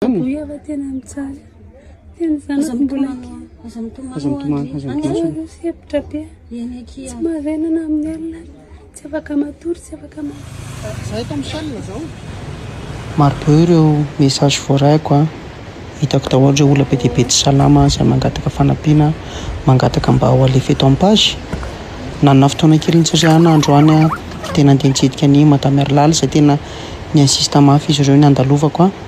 Boy ava tena ny tsara. Tena zanako mbola kely. Aza mitomany. Aza mitomany. Aza mitomany. Aza hevitra be. Eny akia. Tsy mahavenana amin'ny alina. Tsy afaka matory, tsy afaka matory. Zay eto amin'ny salle zao. Maro be ireo message voaraiko a. Hitako daholo ireo olona be dia be tsy salama izay mangataka fanampiana, mangataka mba ho alefa eto amin'ny page. Nanana fotoana kely nitsirihana androany aho dia tena andeha nitsidika an'i Madame Erlala izay tena ni-insiste mafy izy ireo ny handalovako a.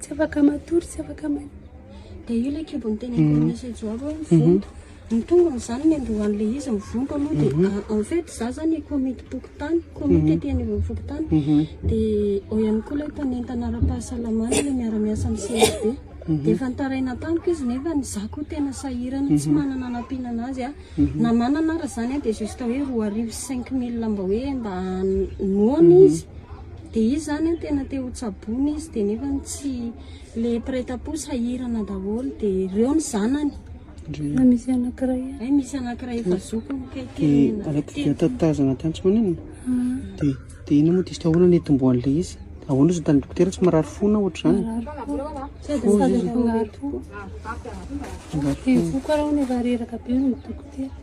Tsy afaka matory, tsy afaka ma... Dia io ilay kibon'ny teneniko mm. message ao hoe mhm. vonto. Ny tongony izany ny androan'ilay izy ny vonto aloha dia mhm. ah, en fait za zany komity pokotany, komity mhm. aty anivon'ny pokotany. Dia ao ihany koa ilay mpanentana ara-pahasalamana ilay miara-miasa amin'ny CSB. Dia efa nitaraina tamiko izy nefa ny za koa tena sahirana tsy manana anampiana anazy a. Na manana ara izany a dia juste hoe roa arivo cinq mille mba hoe mba noana izy. Dia izy zany an tena te ho tsaboina izy dia nefany tsy le mpiretampo sahirana daholo dia ireo ny zanany na misy anankiray eh, ay misy anankiray efa zoky ny kay dia araka dia tatazana tany tsy manenina dia dia ina moa dista ahoana ny hitomboan'ilay izy ahoana izy tany dokotera tsy marary fo na ohatr'izany fo izy izy angatoa angatoa karaha ny efa reraka be ny dokotera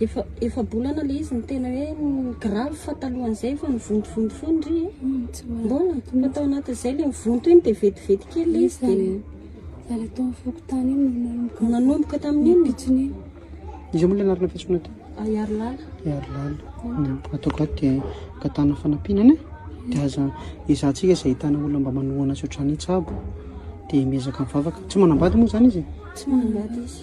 Efa efa-bolana ilay izy ny tena hoe grave fa talohan'izay efa mivontovonto foana ry e. Mbola fa tao anatin'izay ilay mivonto iny dia vetivety kely ilay izy dia Zala tao amin'ny fokontany iny no nanomboka. nanomboka tamin'iny. Pitsony iny. Iza moa ilay anarana fiantsoana aty? Ahiarilala. Ahiarilala. Mm. Ataoko ato dia angatahana fanampiana anie. Dia aza ezahantsika izay ahitana olona mba manohana azy ohatrany hitsabo. Dia miezaka mivavaka. Tsy manambady moa izany izy e? Tsy manambady izy.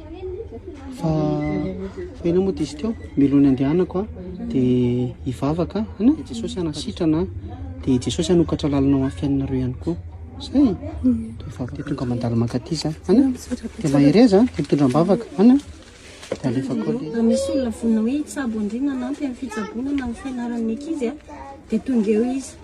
fa hoe na moa dia izy teo milony andehanako a dia hivavaka ana i jesosy anasitrana dia jesosy hanokatra lalana ho anfiainanareo ihany koa zay vavaka dia tonga mandalo mankaty za ana dia mahereza dia mitondra mbavaka ana dia alefako raha misy olona vonina hoe hitsabo andriana anampy amin'ny fitsaboana na amin'ny fianaran'ny ankizy a dia tonga eo izy